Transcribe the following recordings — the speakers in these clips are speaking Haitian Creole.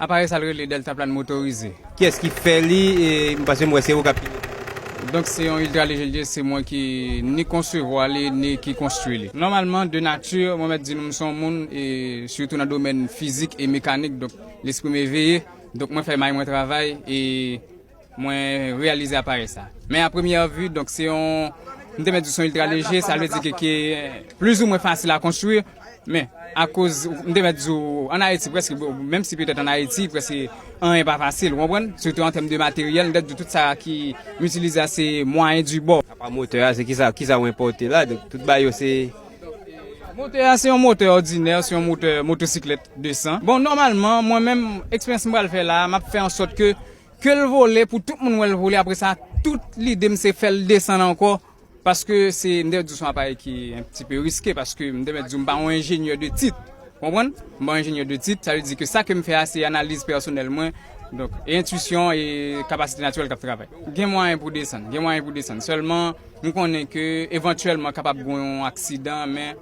Aparèy sa l rele Deltaplan motorize. Kiyès ki fè li e m panse m wè se ou k ap pilote l. Donk se yon Ultra Léger li ye, se mwen ki ni konsevwa li ni ki konstwi li. Nòmalman de nati mwen mèt di nou m se yon moun e sitou nan domèn fizik e mekanik donk lespri m eveye donk mwen fè may mwen travay e Mwen reyalize aparèy sa. Men a premyè vi, donk se yon, m te mèt di se yon iltra leje, sa vle di ke ki pliz ou mwen fasil a konstwi. Men, akoz, m te mèt di w, an Ayiti prèske, menm si petèt an Ayiti prèske anyen pa fasil, ou konprann? Sitou an tèm de materyèl, m te mèt di w tout sa ki m itilize a se mwayen di bò. Apa motè a, se ki sa, ki sa ou enpòte la? Donk tout bagay yo se. Motè a se yon motè òdinè, se yon motè motosiklèt 200. Bon, nòmalman, mwen menm, eksperyans m pral fè la a, m ap fè an sòt ke. Kel vole pou tout moun wèl vole apre sa tout lidem se fèl desann ankò paske se m te di w son aparèy ki yon ti peu riske paske m te mèt di w m pa yon enjenyè de tit ou konprann m pa yon enjenyè de tit sa vle di ke sa kem fè a se analiz pèsonèl mwen donk e entwisyon e kapasite natirèl kap travay gen mwayen pou desann gen mwayen pou desann sèlman m konnen ke evantyèlman kapab gon yon aksidan men.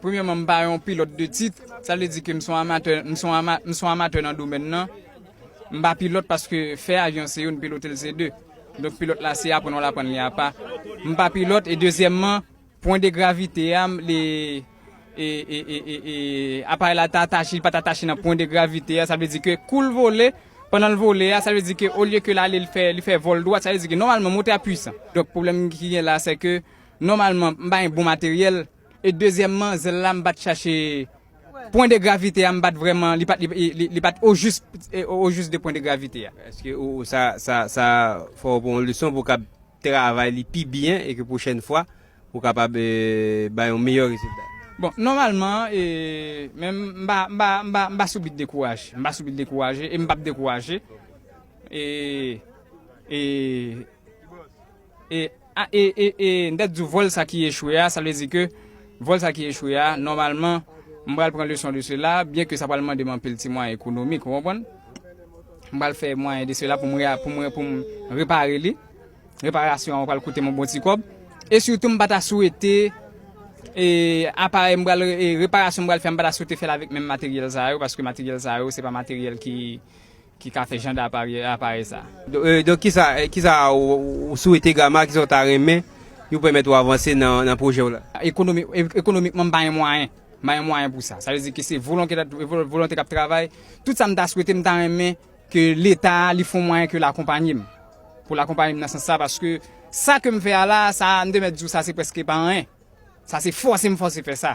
Premyèman m pa yon pilòt de tit, sa vle di ke m son amatè, m son ama, m son amatè nan domèn nan. M pa pilòt paske fè avyon se youn, pilote l se de. Donk pilòt la se aprann wal aprann li apa. M pa pilòt e dezyèmman pwen de gravite a m li e e e e e aparèy la ta atache li pat atache nan pwen de gravite a sa vle di ke kou l vole pandan l vole a sa vle di ke olye ke l ale l fè li fè vòl dwat sa vle di ke nòmalman motè a pwisan. Donk pwoblèm ki gen la sè ke Nòmalman m pa yon bon materyèl e dezyèmman zèl la m pat chache pwen de gravite a m pat vrèman li pat li pat ojis ojis de pwen de gravite a. Eske ou sa sa sa fè w pran yon leson pou w kab travay li pi byen e ke pwochèn fwa ou kapab bay yon meyè rezilta? Bon nòmalman e men m pa m pa m pa m pa sou bit dekouraje m pa sou bit dekouraje e m pap dekouraje e e. E a e e e m ta diw vol sa ki echwe a sa vle di ke vol sa ki echwe a nòmalman m pral pran leson de sela byen ke sa pral mande m anpil ti mwayen ekonomik ou konprann m pral fè mwayen de sela pou m re pou m pou m repare li reparasyon an pral koute m yon bon ti kòb e sitou m pa ta swete e aparèy m pral e reparasyon m pral fè m pa ta swete fè l avèk menm materyèl sa yo paske materyèl sa yo se pa materyèl ki Ki ka fè jan d'aparèy sa. Donk kisa ou swete Gama, kisa ou ta renmen ki pou pèmèt ou avanse nan pwojè ou la? Ekonomikman m pa gen mwayen, m pa gen mwayen pou sa. Sa vle di ke se volonte k'ap travay. Tout sa m ta swete, m ta renmen ke leta li fon mwayen ke l'akonpanye m. Pou l'akonpanye m nan sans sa paske sa ke m fè a la, sa a m te mèt di w sa se prèske pa anyen. Sa se fòse m fòse fè sa.